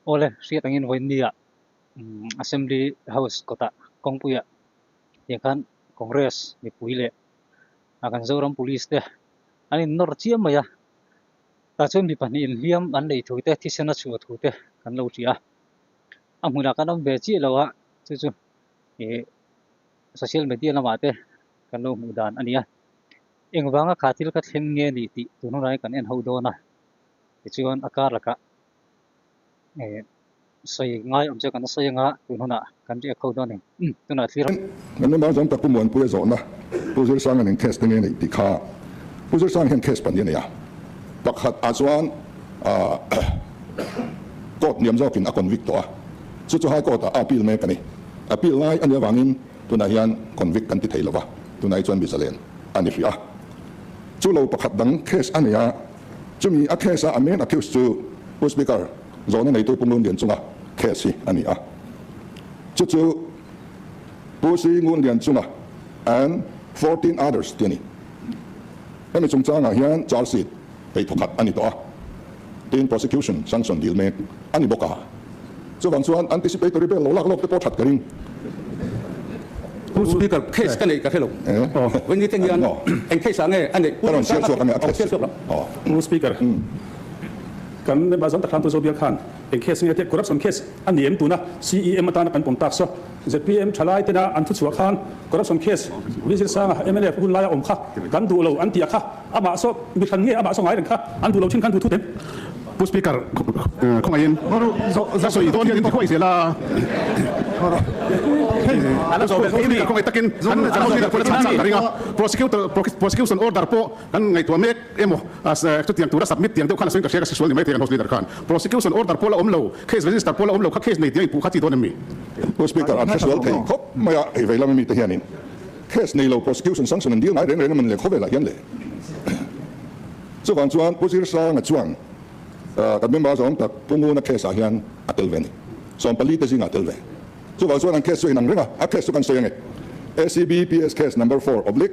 Awle hriat angin vawi nia Assembly House kawtah kawngpuiah tiang khan Congress mipui leh a kan Zoram Police te an innawr chiam mai a, tah chuan mi pahnihin hliam an lei thu te thisen a chhuah thu te kan lo hria. a hmunah kan awm ve chiah lo a, chu chu ih social media lamah te kan lo hmuh dan a ni a, engvanga kha thil ka thleng nge ni tih tun hunah hian kan en ho dawn a, tichuan a kar lakah ih sawi ngai awm chu kan sawi anga tun hunah kan riak ho dawn a ni. Kan ram ah chuan ka Kumuanpui a zawhna Pu Zirsanga nen case te nge neih tih kha Pu Zirsanga hian case pahnih a nei a, pakhat ah chuan court liam zawk in a convict tawh a, chu chu High Court ah a appeal mek a ni, appeal ngai a nia vang in tunah hian convict kan ti thei lo va, tunah hi chuan mizalen a ni hria a. Chu lo pakhat dang case a nei a, chu mi a case a a main accused chu Pu Speaker Zawhna neitui Pungrun rian chunga case hi a ni a, chu chu Pu Sri Ngun rian chunga and fourteen others tih a ni. Hemi chungchangah hian charge sheet ei tha khat a ni tawh a, tin prosecution sanction dil mek a ni bawk a, chuvang chuan anticipatory bail lo lak lawk te pawh that ka ring. Pu Speaker, case ka neih ka hre lo. Vawin nitling hian eng case ah nge a neih? Pu Speaker, Kan member zawng tak thlam tu Zobia khan eng case nge tia corruption case a ni em tuna CEM atana kan pawm tak saw. Zpm thalai tena an thuchhuah khan corruption case Ri Zirsanga mla hun laia awm kha kan duh lo an ti a kha amah saw mi thlan nge amah saw ngai reng kha an duh lo thin khan duh thu te Pu Speaker khawngaihin ka sawi dawn hian in ti huai zel a. Pu Speaker khawngai takin kan House Leader pawhin a chhang chang ka ring a. Prosecutor prosecution order pawh kan ngaihtuah mek. emaw chutiang tura submit tiang deuh khan a sen ka hria ka si sual ni mai thei kan House Leader khan. Prosecution order pawh la awm lo, case register pawh la awm lo kha case nei tiang inpuh kha chi dawn em ni? House Speaker, an hre sual thei khawp mai a, hei veilam ami te hianin case nei lo prosecution sanction an dil ngai reng reng emaw ni le khawvelah hian le chuvang chuan Pu Zirsanga chuan kan member zawng tak Pu Nguna case ah hian a tel ve ni, sawmpali te zingah a tel ve chuvang chuan an case chu a inang reng a, a case chu kan sawi ange, ACBPS case number four oblique.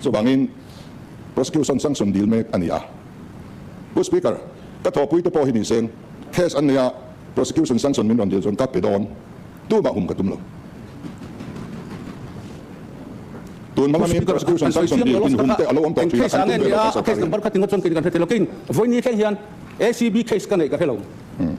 Chuvangin, prosecution sang sawn dil mek a ni a. Pu Speaker, ka thawhpui te pawh hi ni seng, case an nei a, prosecution sang sawn min rawn dil chuan ka pe dawn tumah hum ka tum lo. Tun hmanga min prosecution sang sawn dil inhum te a lo awm tawh thin a, kan tum ve lo kan Sawrkar in.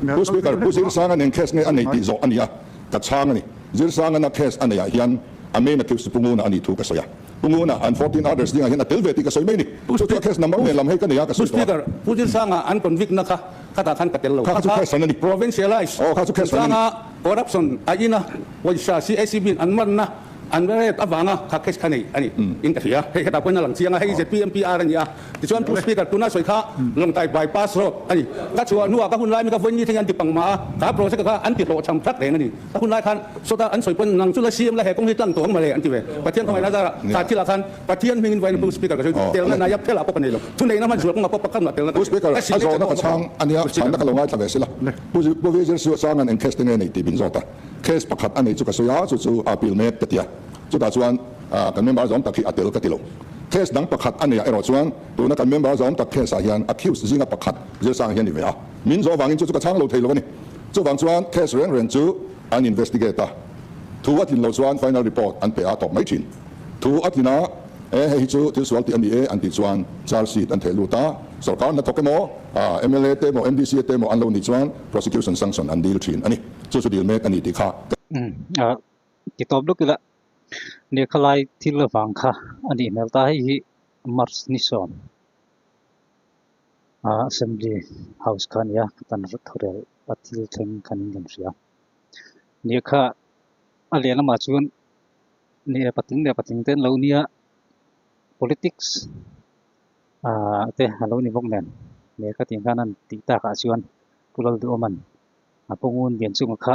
Pu Speaker, Pu Zir Sanga nen case nge a nei tih zawh a ni a, ka chhang a ni. Zir Sangana case a nei ah hian a main accused chu Pu Nguna a ni thu ka sawi a. Pu Nguna and fourteen others dingah hian a tel ve tih ka sawi mai ni. Chu chu a case number nen lam hei ka nei a ka sawi tawh a. Pu Speaker, Pu Zir Sanga an convict na kha khatah khan ka tel lo. Kha kha provincialise Pu Sanga corruption a ina pawisa CACB in an man na an rep avanga kha case kha nei a ni in ka hria. Hei hetah pawhin a lang chiang a, hei ZP MPR a ni a. Tichuan Pu Speaker tuna sawi kha Lawngtai Bypass Road a ni. Ka chhuah hnua ka hunlai mika vawiin nithengin an ti pangmah a, ka project kha an ti hlawh chham hrak reng a ni. Ka hunlai khan sawta an sawi pawn nang chu la siam la he kawng hi tlang tawh ang male an ti ve. Pathian khawngaihna zara tlak thila khan Pathian hmingin vawiin Pu Speaker ka sawi telna nai a phela pawh ka nei lo. Thuneihna hman zual kawngah pawh pakhat luah telna ka nei. Ka hrilh leh chauh chhang a nia chhanna ka lo ngaithla ve si la. Pu Vizier Sue Chang an eng case te nge nei tih bin zawta case pakhat a nei chu ka sawi a, chu chu Appeal mek ka ti a. Chutah chuan kan member zawng tak hi a tel ka tilo. Case dang pakhat a nei ah erawh chuan tuna kan member zawng tak case ah hian accused zinga pakhat Zirsanga hian ni ve a. Min zawh avangin chu chu ka chhang lo thei lo a ni. Chuvang chuan case reng reng chu an investigate a. Thu a tlin lo chuan final report an pe a tawp mai thin. Thu a tlin a e hei hi chu thil sual tih a ni e an tih chuan charge sheet an theh lut a. Sorkar hnathawk emaw mla te emaw MDCA te emaw an lo nih chuan prosecution sanction an dil thin a ni. Chu chu dil mek a ni tih kha ka. ti tawp lutuk ila lehkhalai thil vang kha a nih hmel ta hei hi march ni sawm a assembly house kha a nia ka tan rawt tho rel a thil thleng khan in kan hria lehkha a leh lamah chuan leh patling leh patling te an lo nia politics a te a lo ni bawk nen lehkha tih hian an tih takah chuan pulal duh awm an a pawngun lian chunga kha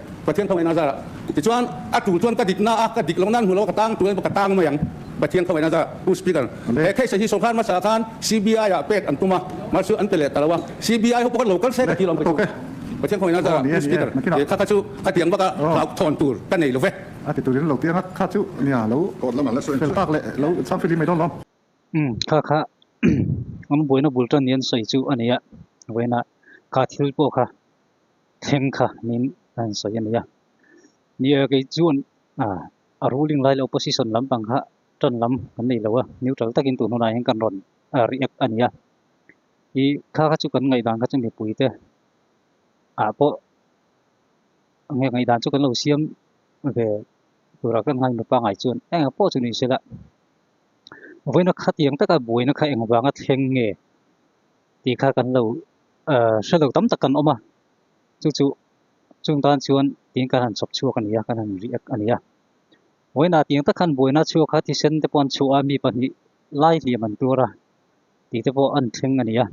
Pathian tho eina zarah. Tichuan a tul chuan ka dik na a, ka dik lo nan hmu lo, ka tang turin ka tang mai ang Pathian tho eina zarah. U Speaker, he case hi sawrkar hmasa khan CBI ah pek an tum a, mar chu an pe leh ta lo a. CBI ho pawh ka lo kal se ka tih lo ang phei chu. Pathian tho eina zarah. U Speaker, he kha kha chu a tiang bak a, hlauh thawn tur ka nei lo ve. A ti turin lo ti anga kha chu nia lo fel tak leh lo cham fil hi mai dawn lo. U kha kha, an buaina bul tan nen sawi chu a ni a, vawiinah ka thil pawh kha thleng kha min han sawi a ni a ni a kei chuan a ruling lai lo position lampang kha tan lam kan nei lo a neutral takin tun hunah hian kan rawn react a ni a i kha kha chu kan ngaih dan kha chu mipui te a pawh nge ngaih dan chu kan lo siam ve tura kan ngai mi pangai chuan enga pawh chu ni sela voina khatiang taka buaina kha engvanga thleng nge tih kha kan lo hre lo tam tak kan awm a chu chu chung tan chuan tiin kan han chhawp chhuak a nia kan han riak a nia huaina tiang tak khan buaina chhuak kha thisen te pawh an chhuah a mi pahnih lai hliam an tur a tih te pawh an thleng a nia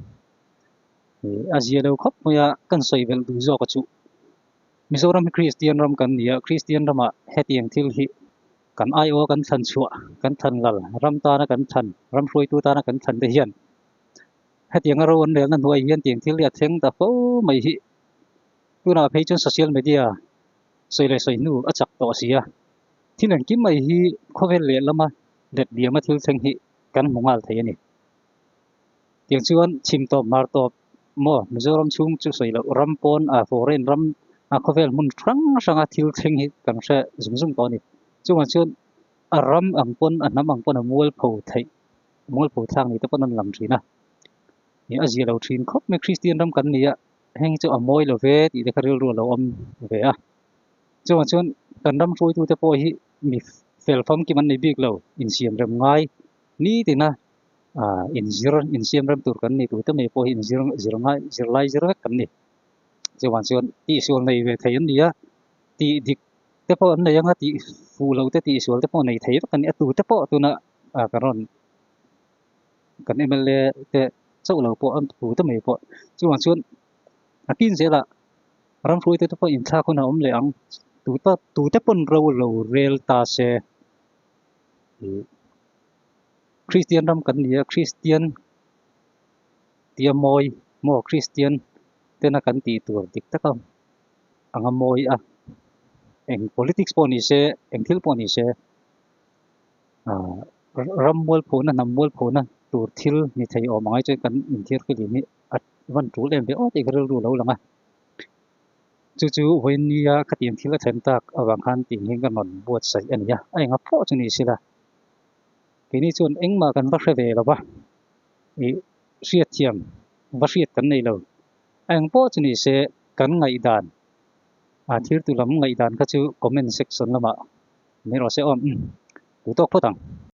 a zia lo khawp mai a kan sawi bel duh zawk a chu Mizoram Christian ram kan nia Christian rama hetiang thil hi kan ai o kan thlan chhuah kan thlan lal ram tana kan thlan ram hruaitu tana kan thlan te hian hetianga roan melna hnuai hian tiang thil hi a thleng ta fo mai hi tunah phei chuan social media sawi leh sawi hnu a chak tawh a si a thil engkim mai hi khawvel leh lama let biama thil thleng hi kan hmu ngal thei a ni tiang chuan chim tawp mar tawp maw mizoram chhung chu sawi lo ram pawn a foreign ram a khawvel hmun hrang hranga thil thleng hi kan hre zum zum tawh a ni chungah chuan a ram ang pawn a hnam ang pawn a mual pho theih Mual pawl thlak neite pawh nan lam thin a, ih a zia lo thin khawp mai Kristian ram kan nia heng chu a mawi lo ve tih te kha rilru a lo awm ve a, chungah chuan kan ram hruaitu te pawh hi mi fel famkim an nei bik lo, insiam rem ngai nitina inzir insiam rem tur kan ni tute mai pawh hi inzir zir ngai zirlai zir vek kan ni, chungah chuan tihsual nei ve thei an nia, tih dik te pawh an nei anga tih fuh loh te tihsual te pawh nei thei vek an ni a tute pawh tunah a ka rawn kan mla te chauh lo pawh an thu ta mai pawh chuan chuan a tin zela ram hrui te pawh in thlak hun a awm leh ang tu ta tu te pon ro lo rel ta se christian ram kan nia christian tia moi mo christian te na kan ti tur dik taka anga moi a eng politics pawh ni se eng thil pawh ni se ram mualphuhna hnam mualphuhna tur thil ni thei awm angai chuan kan inthiar kha lim hi a van tul em viau tak ka rilru lo lang a chu chu vawinia khatiang thil a thlen tak avang khan tih hian ka nawn buat saih a nia a enga pawh chu ni sila keini chuan engmah kan va hre ve lo va i hriat thiam va hriat kan nei lo a eng pawh chu ni se kan ngaihdan A thirtu lam ngaihdan kha chu comment section lamah ni rawh se awm. Tû tawk phawt ang.